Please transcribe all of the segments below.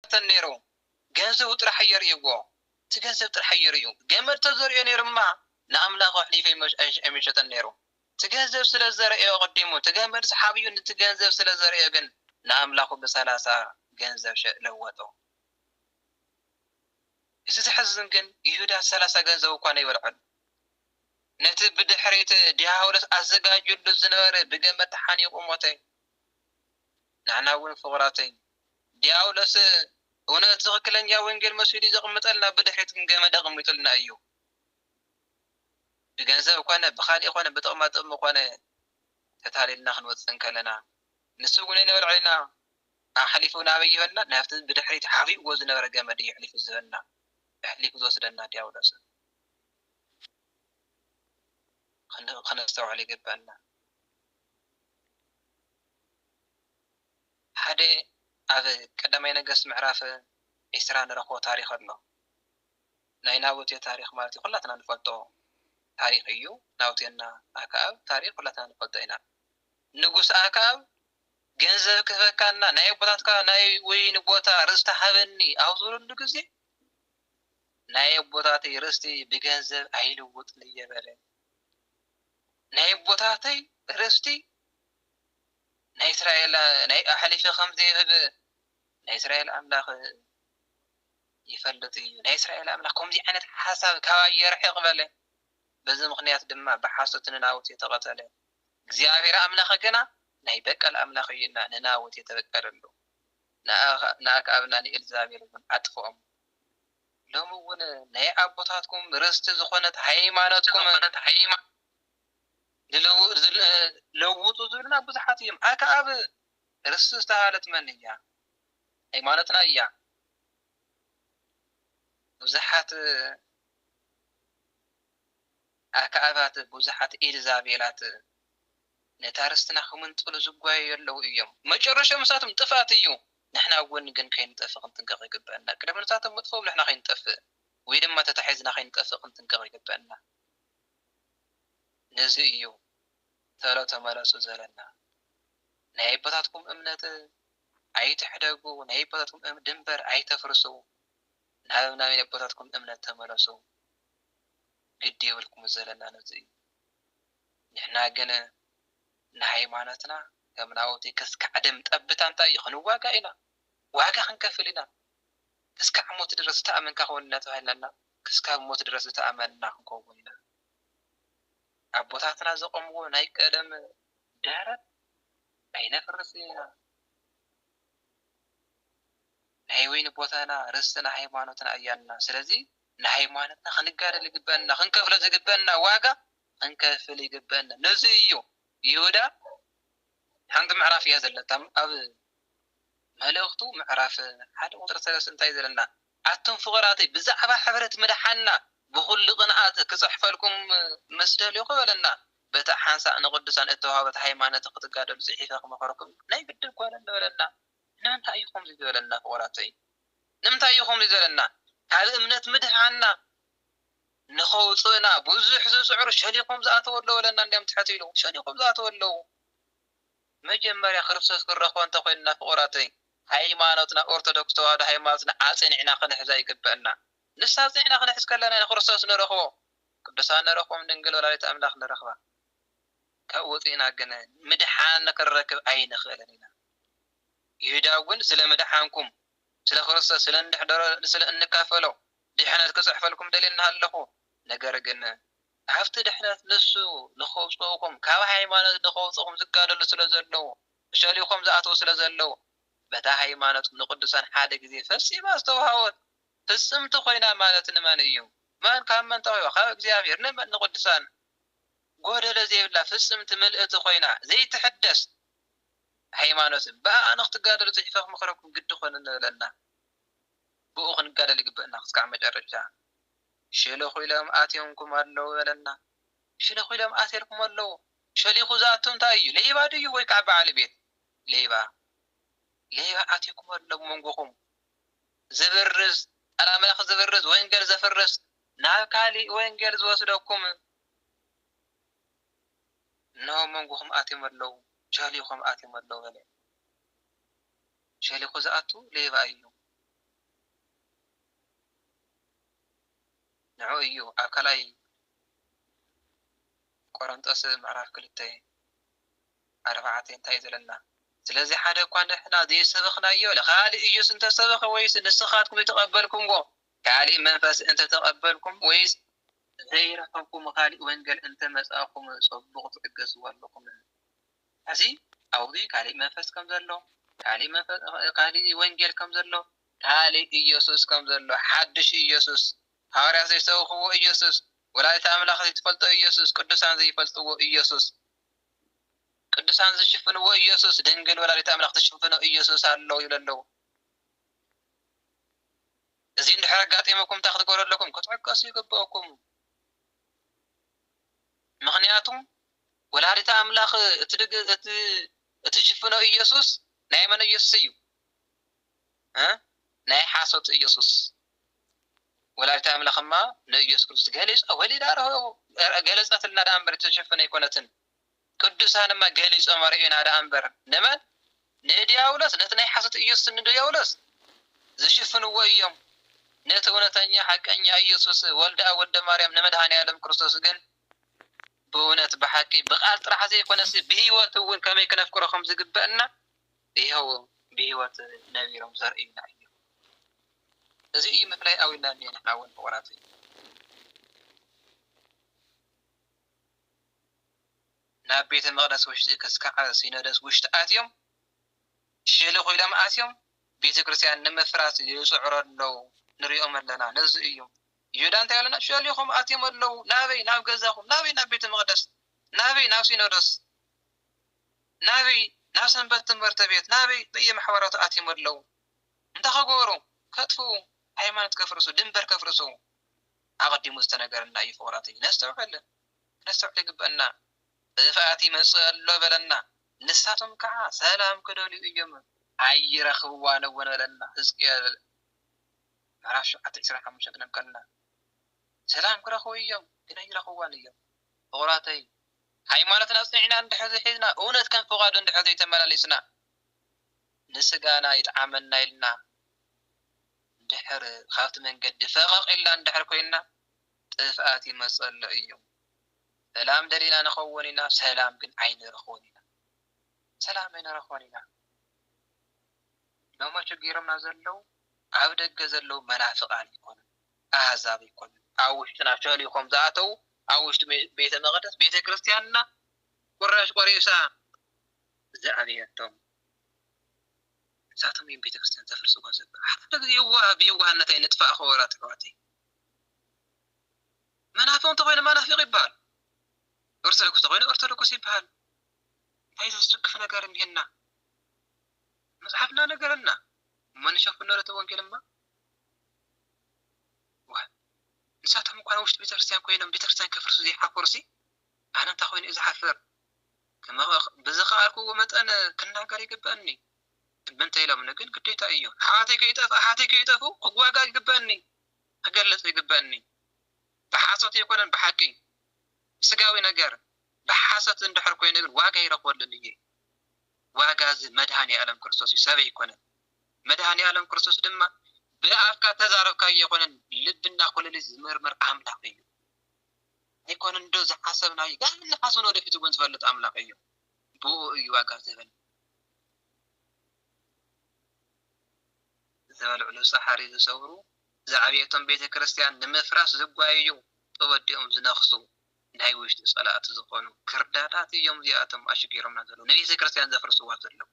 ኣይተረፈን ነይሩ ገንዘቡ ጥራሕ እዮ ርእይዎ እቲ ገንዘብ ጥራሕ እዮ ርእዩ ገመድ ተዘርእዮ ነይሩማ ንኣምላኩ ኣሕሊፉ ኣይምሸጠን ነይሩ እቲ ገንዘብ ስለ ዘረእዮ ኣቀዲሙ እቲ ገመድ ሰሓቢኡ ንቲ ገንዘብ ስለ ዘርእዮ ግን ንኣምላኩ ብሰላሳ ገንዘብ ለወጦ እቲ ዘሕዝን ግን ይሁዳ እቲ ሰላሳ ገንዘቡ እኳ ነይበልዖን ነቲ ብድሕሪት ዲያብሎስ ኣዘጋጅሉ ዝነበረ ብገመድ ተሓኒቁ ሞተ ናዕና እውን ፍቁራተይ ዲያብሎስ እውነት ትኽክለኛ ወንጌል መሲሉ ዘቕምጠልና ብድሕሪት ግን ገመድ ኣቕሚጡልና እዩ። ብገንዘብ ኮነ ብኻሊእ ኮነ ብጥቕማጥቕሚ ኮነ ተታሊልና ክንወፅእ እንከለና ንሱ ግን ንበልዕሊና ኣሕሊፉ ናበይ ይህበና? ናብቲ ብድሕሪት ሓቢእዎ ዝነበረ ገመድ እዩ ኣሕሊፉ ዝህበና። ኣሕሊፉ ዝወስደና ዲያብሎስ እዩ። ከነስተውዕል ይግበኣና። ሓደ ኣብ ቀዳማይ ነገስት ምዕራፍ ዕስራ ንረኽቦ ታሪኽ ኣሎ ናይ ናቡቴ ታሪኽ ማለት እዩ ኩላትና ንፈልጦ ታሪኽ እዩ ናቡቴና ኣክኣብ ታሪኽ ኩላትና ንፈልጦ ኢና ንጉስ ኣክኣብ ገንዘብ ክህበካና ናይ ኣቦታትካ ናይ ወይኒ ቦታ ርስቲ ሃበኒ ኣብ ዝበለሉ ግዜ ናይ ኣቦታተይ ርስቲ ብገንዘብ ኣይልውጥን እየ በለ ናይ ኣቦታተይ ርስቲ ናይ እስራኤል ናይ ኣሕሊፈ ከም ዘይህብ ናይ እስራኤል ኣምላኽ ይፈልጥ እዩ። ናይ እስራኤል ኣምላኽ ከምዚ ዓይነት ሓሳብ ካባይ የርሕቕ በለ። በዚ ምኽንያት ድማ ብሓሶት ንናቡቴ ተቐተለ። እግዚኣብሔር ኣምላኽ ግና ናይ በቀል ኣምላኽ እዩና ንናቡቴ ተበቀለሉ፣ ንኣክኣብን ንኤልዛቤል እውን ኣጥፍኦም። ሎሚ እውን ናይ ኣቦታትኩም ርስቲ ዝኾነት ሃይማኖትኩም ለውጡ ዝብሉና ብዙሓት እዮም። ኣከኣብ ርስቲ ዝተባህለት መን እያ? ሃይማኖትና እያ። ብዙሓት ኣከኣባት፣ ብዙሓት ኤልዛቤላት ነታ ርስትና ክምንጥሉ ዝጓየዩ ኣለዉ እዮም። መጨረሻኦም ንሳቶም ጥፍኣት እዩ። ንሕና ኣብ ጎኒ ግን ከይንጠፍእ ክንጥንቀቕ ይግበኣና። ቅድሚ ንሳቶም ምጥፋኦም ንሕና ከይንጠፍእ ወይ ድማ ተታሒዝና ከይንጠፍእ ክንጥንቀቕ ይግበኣና። ነዚ እዩ ተሎ ተመለሱ ዘለና ናይ ኣቦታትኩም እምነት ኣይትሕደጉ ናይ ኣቦታትኩም ድንበር ኣይተፍርሱ ናብ ናይ ኣቦታትኩም እምነት ተመለሱ ግድ የብልኩም ዘለና ነዚ እዩ ንሕና ግን ንሃይማኖትና ከም ናውቲ ከስካዕድም ጠብታ እንታይ እዩ ክንዋጋእ ኢና ዋጋ ክንከፍል ኢና እስካዕ ሞት ድረስ ዝተኣመንካ ኩን እናተባህልና እና ክስካብ ሞት ድረስ ዝተኣመንና ክንከውን ኢና ኣቦታትና ዘቆምዎ ናይ ቀደም ድሕረት ኣይነፍርስን ኢና ናይ ወይኒ ቦታና ርስትና ሃይማኖትና እያና ስለዚ ንሃይማኖትና ክንጋደል ይግበእና ክንከፍሎ ዝግበእና ዋጋ ክንከፍል ይግበእና ነዚ እዩ ይሁዳ ሓንቲ ምዕራፍ እያ ዘለታ ኣብ መልእኽቱ ምዕራፍ ሓደ ቁጽሪ ሰለስተ እንታይ ዘለና ኣቱም ፍቁራተይ ብዛዕባ ሕብረት ምድሓንና ብኹሉ ቅንኣት ክጽሕፈልኩም ምስ ደልኹ በለና በታ ሓንሳእ ንቅዱሳን እተዋህበት ሃይማኖት ክትጋደሉ ጽሒፈ ክመኽረኩም ናይ ግድን ኮነ በለና ንምንታይ እዩ ከምዚ ዝበለና ፍቁራተይ ንምንታይ እዩ ከምዚ ዝበለና ካብ እምነት ምድሓንና ንኸውጽእና ብዙሕ ዝጽዕሩ ሸሊኾም ዝኣተው ኣለው በለና እንድያም ትሕት ኢሉ ሸሊኾም ዝኣተው ኣለው መጀመርያ ክርስቶስ ክንረኽቦ እንተ ኾይንና ፍቁራተይ ሃይማኖትና ኦርቶዶክስ ተዋህዶ ሃይማኖትና ኣጽኒዕና ክንሕዛ ይግበእና ንሳ ኣጽኒዕና ክንሕዝ ከለና ኢና ክርስቶስ ንረኽቦ ቅዱሳን ንረኽቦም ድንግል ወላዲተ ኣምላኽ ንረኽባ ካብ ወጺእና ግን ምድሓን ክንረክብ ኣይንኽእልን ኢና ይሁዳ እውን ስለ ምድሓንኩም ስለ ክርስቶስ ስለ እንድሕደሮ ስለ እንካፈሎ ድሕነት ክጽሕፈልኩም ደልየ እናሃለኹ ነገር ግን ካብቲ ድሕነት ንሱ ንኸውጽኡኩም ካብ ሃይማኖት ንኸውጽኡኹም ዝጋደሉ ስለ ዘለዉ ሸሊኾም ዝኣትዉ ስለ ዘለዉ በታ ሃይማኖት ንቅዱሳን ሓደ ግዜ ፈጺማ ዝተውሃቦት ፍጽምቲ ኮይና ማለት ንመን እዩ መን ካብ መን ተዋሂባ ካብ እግዚኣብሔር ንመን ንቅዱሳን ጎደሎ ዘይብላ ፍጽምቲ ምልእቲ ኮይና ዘይትሕደስ ሃይማኖት ብኣኣ ንኽትጋደሉ ጽሒፈ ክመኽረኩም ግዲ ኮነኒ በለና። ብኡ ክንጋደል ይግበእና ክስካዕ መጨረሻ ሸለኹ ኢሎም ኣትዮምኩም ኣለዉ በለና። ሸለኹ ኢሎም ኣትየልኩም ኣለዉ። ሸሊኹ ዝኣቱ እንታይ እዩ ሌባ ድዩ ወይ ካዓ ባዓል ቤት ሌባ ሌባ ኣትዩኩም ኣሎ ኣብ መንጎኹም ዝብርዝ ቃል ኣምላኽ ዝብርዝ ወንገል ዘፍርስ ናብ ካሊእ ወንገል ዝወስደኩም እነሆ ኣብ መንጎኹም ኣትዮም ኣለዉ ሸሊኹም ኣትዮም ኣለዉ በለ። ሸሊኹ ዝኣቱ ሌባ እዩ። ንዑ እዩ ኣብ ካልኣይ ቆረንጦስ ምዕራፍ ክልተ ኣርባዕተ እንታይ እዩ ዝብለና? ስለዚ ሓደ እኳ ንሕና ዘይሰበኽናዮ ንኻልእ እዩስ እንተ ሰበኸ ወይስ ንስኻትኩም ዘይተቐበልኩምዎ ካልእ መንፈስ እንተ ተቐበልኩም ወይስ ዘይረኸብኩምዎ ካልእ ወንጌል እንተ መጻእኩም ጽቡቕ ትዕገስዎ ኣሎኹም። ሕዚ ኣብኡ ካልእ መንፈስ ከም ዘሎ፣ ካልእ ወንጌል ከም ዘሎ፣ ካልእ ኢየሱስ ከም ዘሎ፣ ሓድሽ ኢየሱስ፣ ሃዋርያት ዘይሰበኽዎ ኢየሱስ፣ ወላዲተ ኣምላኽ ዘይትፈልጦ ኢየሱስ፣ ቅዱሳን ዘይፈልጥዎ ኢየሱስ፣ ቅዱሳን ዝሽፍንዎ ኢየሱስ፣ ድንግል ወላዲተ ኣምላኽ ትሽፍኖ ኢየሱስ ኣሎ ይብሉ ኣለዉ። እዚ እንድሕር ኣጋጢሙኩም እንታይ ክትገብሩ ኣለኩም? ክትዕገሱ ይግበኣኩም። ምኽንያቱ ወላዲተ ኣምላኽ እትሽፍኖ ኢየሱስ ናይ መን ኢየሱስ እዩ? ናይ ሓሶት ኢየሱስ። ወላዲተ ኣምላኽማ ንኢየሱስ ክርስቶስ ገሊጻ ወሊዳ ገለጸትልና ደኣ እምበር እተሸፈነ ኣይኮነትን። ቅዱሳን እማ ገሊጾም ኣርእዩና ደኣ እምበር ንመን ንድያብሎስ ነቲ ናይ ሓሶት ኢየሱስ ንድያብሎስ ዝሽፍንዎ ኢዮም ነቲ እውነተኛ ሓቀኛ ኢየሱስ ወልደኣብ ወደ ማርያም ንመድኃኔዓለም ክርስቶስ ግን ብእውነት ብሓቂ ብቃል ጥራሕ ዘይኮነሲ ብሕይወት እውን ከመይ ክነፍቅሮ ከም ዝግበእና ይሀው ብሕይወት ነቢሮም ዘርእዩና ኢዮም እዚ እዩ ምፍላይ ኣውልና እንሄ ንሕና እውን ፍቁራተይ ናብ ቤተ መቕደስ ውሽጢ ክስካዕ ሲኖዶስ ውሽጢ ኣትዮም ሸለኹ ኢሎም ኣትዮም ቤተ ክርስቲያን ንምፍራስ ይጽዕሩ ኣለው ንሪኦም ኣለና ነዚ እዩ ይሁዳ እንታይ ኣለና ሸሊኾም ኣትዮም ኣለው ናበይ ናብ ገዛኹም ናበይ ናብ ቤተ መቕደስ ናበይ ናብ ሲኖዶስ ናበይ ናብ ሰንበት ትምህርቲ ቤት ናበይ በየማሕበራቱ ኣትዮም ኣለው እንታይ ከገበሩ ከጥፉ ሃይማኖት ከፍርሱ ድንበር ከፍርሱ ኣቐዲሙ ዝተነገረና እዩ ፍቑራት እዩ ነስተውዕል ክነስተውዕል ይግበእና ጥፍኣት ይመጽእ ኣሎ በለና ንሳቶም ከኣ ሰላም ክደልዩ እዮም ኣይረኽብዋን እውን በለና ህዝቅኤል ምዕራፍ ሸውዓተ ዕስራን ሓሙሽተን ክነንብ ከለና ሰላም ክረኽቡ እዮም ግን ኣይረኽብዋን እዮም ፍቑራተይ ሃይማኖትና ኣጽኒዕና እንድሕር ዘይሒዝና እውነት ከም ፍቓዱ እንድሕር ዘይተመላለስና ንስጋና ይጥዓመና ኢልና እንድሕር ካብቲ መንገዲ ፈቐቕ ኢልና እንድሕር ኮይንና ጥፍኣት ይመጸሎ እዩ ሰላም ደሊና ንከውን ኢና ሰላም ግን ኣይንረክቦን ኢና ሰላም ኣይንረክቦን ኢና ሎሚ ኣቸጊሮምና ዘለው ኣብ ደገ ዘለው መናፍቃን ኣይኮኑን ኣህዛብ ኣይኮኑን ኣብ ውሽጥና ሸሊኮም ዝኣተው ኣብ ውሽጢ ቤተ መቅደስ ቤተ ክርስትያንና ቁራሽ ቆሪሳ ዝኣበየቶም ንሳቶም እዮም ቤተ ክርስትያን ዘፍርስዎ ዘሎ ሓደ ግዜ የዋህ ብየዋህነት ኣይንጥፋእ ክቡራት ኣሕዋተይ መናፍቅ እንተኮይኑ መናፍቅ ይበሃል ኦርቶዶክስ እንተኮይኑ ኦርቶዶክስ ይበሃል እንታይ ዘስክፍ ነገር እኒሀና መፅሓፍ እናነገረና እሞ ንሸፍኖ እቲ ወንጌል እማ ንሳቶም እኳ ውሽጢ ቤተክርስትያን ኮይኖም ቤተክርስትያን ከፍርሱ ዘይሓፈሩ ሲ ኣነ እንታይ ኮይኑ እዩ ዝሓፍር ብዝኸኣልኩዎ መጠን ክናገር ይግበኣኒ ምእንተ ኢሎምኒ ግን ግዴታይ እዩ ኣሕዋተይ ከይጠፍእ ኣሓተይ ከይጠፍኡ ክዋጋእ ይግበእኒ ክገልጽ ይግበእኒ ብሓሶት ኣይኮነን ብሓቂ ስጋዊ ነገር ብሓሰት እንድሕር ኮይነ ግን ዋጋ ይረክበሉን እየ ዋጋ እዚ መድሃኒ ኣለም ክርስቶስ እዩ ሰብ ኣይኮነን መድሃኒ ኣለም ክርስቶስ ድማ ብኣፍካ ተዛረብካ ኣይኮነን ልብና ኩለሊት ዝምርምር ኣምላኽ እዩ ኣይኮነን ዶ ዝሓሰብናዩ ጋር ንሓሰብ ንወደፊት እውን ዝፈልጥ ኣምላኽ እዩ ብእኡ እዩ ዋጋ ዝህበን። ዝበልዕሉ ጻሕሪ ዝሰብሩ፣ ዝዓብየቶም ቤተ ክርስቲያን ንምፍራስ ዝጓየዩ፣ ተወዲኦም ዝነኽሱ፣ ናይ ውሽጢ ጸላእቲ ዝኾኑ ክርዳዳት እዮም እዚኣቶም ኣሽጊሮምና ዘለዉ፣ ንቤተ ክርስቲያን ዘፍርስዋ ዘለዉ።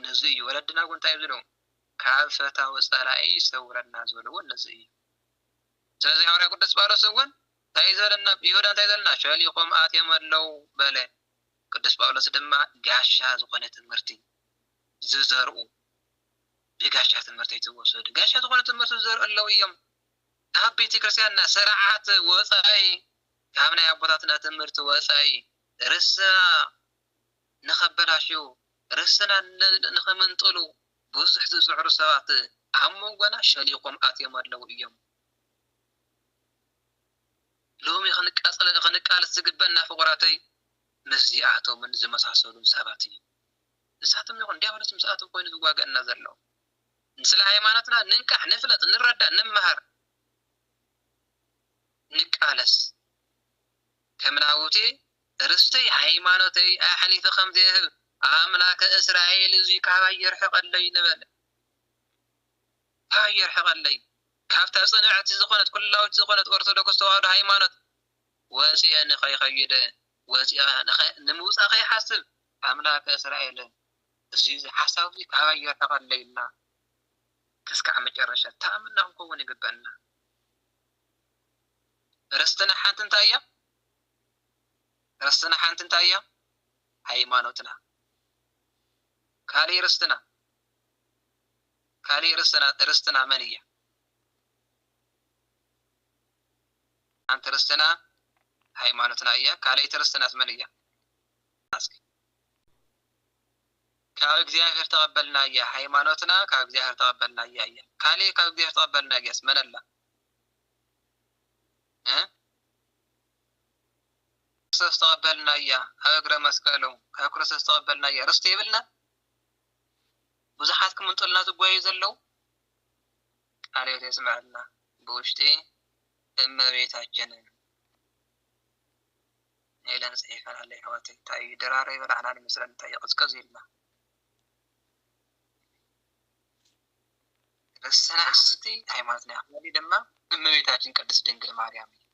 ነዚ እዩ ወለድና እውን እንታይ ዝብሉ ካብ ፈታዊ ጸላኢ ይሰውረና ዝብልዎ ነዚ እዩ። ስለዚ ሃዋርያ ቅዱስ ጳውሎስ እውን እንታይ እዩ ዝበለና? ብይሁዳ እንታይ እዩ ዝበለና? ሸሊኾም ኣትዮም ኣለዉ በለ። ቅዱስ ጳውሎስ ድማ ጋሻ ዝኾነ ትምህርቲ ዝዘርኡ ብጋሻ ትምህርቲ ኣይትወሰዱ፣ ጋሻ ዝኾነ ትምህርቲ ዝዘርኡ ኣለዉ እዮም። ካብ ቤተ ክርስቲያንና ስርዓት ወፃኢ ካብ ናይ ኣቦታትና ትምህርቲ ወፃኢ ርስና ንኸበላሽው ርስና ንኸምንጥሉ ብዙሕ ዝፅዕሩ ሰባት ኣብ መንጎና ሸሊኾም ኣትዮም ኣለዉ እዮም። ሎሚ ክንቃለስ ዝግበእና ፍቑራተይ ምስዚኣቶምን ዝመሳሰሉን ሰባት እዩ። ንሳቶም ይኹን ዲያብሎስ ምስኣቶም ኮይኑ ዝዋገእና ዘሎ። ንስለ ሃይማኖትና ንንቃሕ ንፍለጥ ንረዳእ ንመሃር ንቃለስ። ከም ናቡቴ ርስተይ ሃይማኖተይ ኣሕሊፈ ከም ዘይህብ ኣምላከ እስራኤል እዙይ ካባይ የርሕቐለይ ንበል። ኣህ የርሕቀለይ ካብታ ጽንዕቲ ዝኮነት ኩላዊት ዝኮነት ኦርቶዶክስ ተዋህዶ ሃይማኖት ወጺኤ ንከይከይድ ወጺኣ ንምውጻእ ከይሓስብ ኣምላከ እስራኤል እዚ ሓሳብ እዚ ካባይ የርሕቀለይ እና ክስካዕ መጨረሻ ተኣምና ክንከውን ይግበእና ርስትና ሓንቲ እንታይ እያ ርስትና ሓንቲ እንታይ እያ ሃይማኖትና ካልእ ርስትና ካሊእ ርስትና ርስትና መን እያ? ሓንቲ ርስትና ሃይማኖትና እያ ካልኣይቲ ርስትናስ መን እያ? እስኪ ካብ እግዚኣብሔር ተቐበልናያ ሃይማኖትና ካብ እግዚኣብሔር ተቐበልናያ እያ ካሊእ ካብ እግዚኣብሔር ተቐበልናያስ መን ኣላ? ክርስቶስ ተቐበልናያ ኣብ እግረ መስቀሉ ካብ ክርስቶስ ተቐበልናያ ርስቲ የብልና ብዙሓት ክምንጥሉና ዝጎየዩ ዘለው ቃለ ህይወት የስመዐልና ብውሽጢ እመቤታችንን ኢለን ፅሒፈን ኣለይ ኣሕዋተይ እንታይ እዩ ድራረይ በላዕና ንመስለን እንታይ እዩ ቅዝቅዝ ኢልና ረሰና ስቲ ሃይማኖትና ያክበሪ ድማ እመቤታችን ቅድስት ድንግል ማርያም እዩ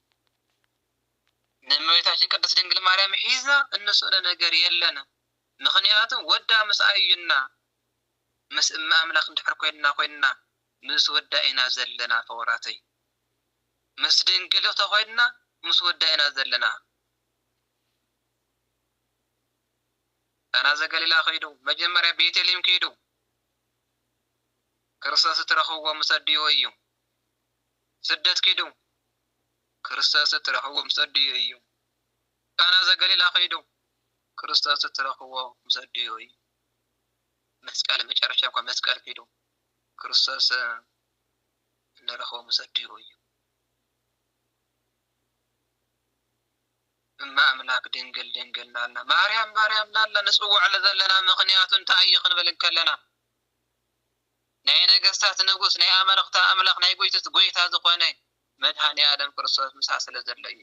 ንእመቤታችን ቅድስት ድንግል ማርያም ሒዝና እንስእሎ ነገር የለንም ምኽንያቱ ወዳ ምስኣ እዩና ምስ እመ ኣምላክ እንድሕር ኮይንና ኮይንና ምስ ወዳ ኢና ዘለና ፍቁራተይ ምስ ድንግል ተኮይንና ምስ ወዳ ኢና ዘለና ቃና ዘገሊላ ክይዱ መጀመርያ ቤቴሊም ክይዱ ክርስቶስ እትረክብዎ ምስ ኣዲኡ እዩ ስደት ክይዱ ክርስቶስ እትረክብዎ ምስ ኣዲኡ እዩ ቃና ዘገሊላ ከይዱ ክርስቶስ እትረኽብዎ ምስ ኣዲኡ እዩ። መስቀል ኣብ መጨረሻ እኳ መስቀል ከይዱ ክርስቶስ እንረኽቦ ምስ ኣዲኡ እዩ። እመ ኣምላክ ድንግል ድንግል ናልና ማርያም ማርያም ናልና ንጽውዕሉ ዘለና ምክንያቱ እንታይ እዩ ክንብል እንከለና ናይ ነገስታት ንጉስ ናይ ኣመልኽቲ ኣምላኽ ናይ ጎይትት ጎይታ ዝኾነ መድሃኒ ኣለም ክርስቶስ ምሳ ስለ ዘሎ እዩ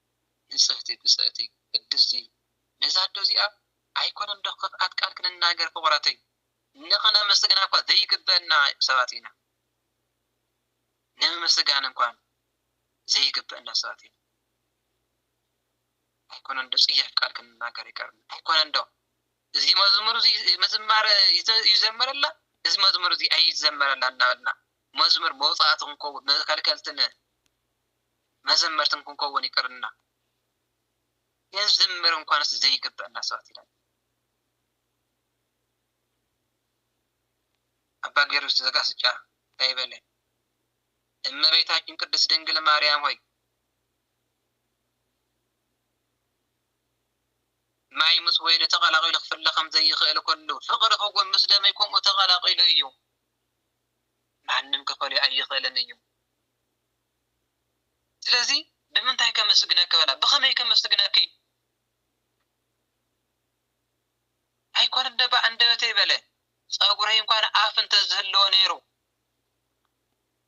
ንጽህቲ ብጽእቲ ቅድስቲ ነዛ ኣዶ እዚኣ ኣይኮነን ዶ ክፍኣት ቃል ክንናገር ፍቁራተይ ንክነመስግና እኳ ዘይግበእና ሰባት ኢና ንምምስጋን እንኳን ዘይግበእና ሰባት ኢና ኣይኮነን ዶ ጽያፍ ቃል ክንናገር ይቀርና ኣይኮነን ዶ እዚ መዝሙር እዚ ምዝማር ይዘመረላ እዚ መዝሙር እዚ ኣይዘመረላ እናበልና መዝሙር መውፃእቲ ክንከውን መከልከልትን መዘመርትን ክንከውን ይቅርና ክንዝምር እንኳንስ ዘይግበአና ሰባት ኢና። አባ ጊዮርጊስ ዘጋስጫ እንታይ በለ? እመቤታችን ቅድስት ድንግል ማርያም ሆይ ማይ ምስ ወይኒ ተቀላቂሉ ክፍለ ከም ዘይኽእል ኩሉ ፍቅሪ እውን ምስ ደመይ ከምኡ ተቀላቂሉ እዩ። ማንም ክፈልዮ ኣይኽእልን እዩ። ስለዚ ብምንታይ ከመስግነኪ በላ። ብኸመይ ከመስግነኪ? ኣይኮነን ዶ ብኣንደበተይ በለ። ጸጉረይ እኳ ኣፍ እንተ ዝህልዎ ነይሩ፣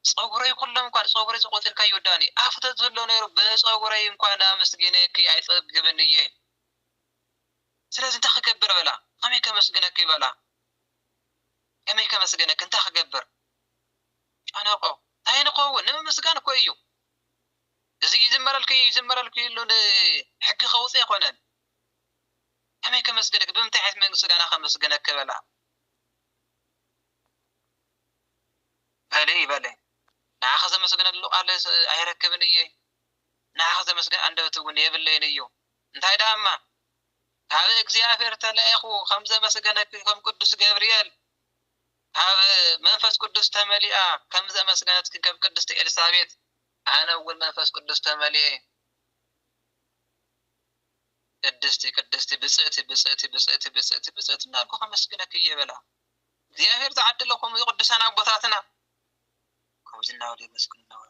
ጸጉረይ ኩሎም እኳ ጸጉረይ ጸቆጢርካዮ ዳኒ፣ ኣፍ እንተ ዝህልዎ ነይሩ ብጸጉረይ እኳ ኣመስጊነኪ ኣይጸግብን እየ። ስለዚ እንታይ ክገብር በላ። ከመይ ከመስግነኪ በላ። ከመይ ከመስግነኪ እንታይ ክገብር? ጨነቆ ታይ ንከውን ንምምስጋን እኮ እዩ እዚ ይዝመረልኪ ይዝመረልኪ እሉ ሕጊ ከውፅእ ኣይኮነን ከመይ ከመስግንኪ ብምንታይ ዓይነት ምስጋና ከመስግነኪ በላ በሊ በለ ንዓኺ ዘመስግነሉ ቃል ኣይረክብን እየ ንዓኺ ዘመስግን ኣንደበት እውን የብለይን እዩ እንታይ ደኣ እማ ካብ እግዚኣብሔር ተላኢኹ ከም ዘመስገነኪ ከም ቅዱስ ገብርኤል ካብ መንፈስ ቅዱስ ተመሊኣ ከም ዘመስገነት ክንከም ቅድስቲ ኤልሳቤጥ ኣነ እውን መንፈስ ቅዱስ ተመሊኤ ቅድስቲ ቅድስቲ ብፅእቲ ብፅእቲ ብፅእቲ ብፅእቲ ብፅእቲ እናልኩ ከመስግነክ እየ በላ እግዚኣብሔር ዝዓደለኩም ቅዱሳን ኣቦታትና ከምዚ እናበሉ የመስግኑ ነበሩ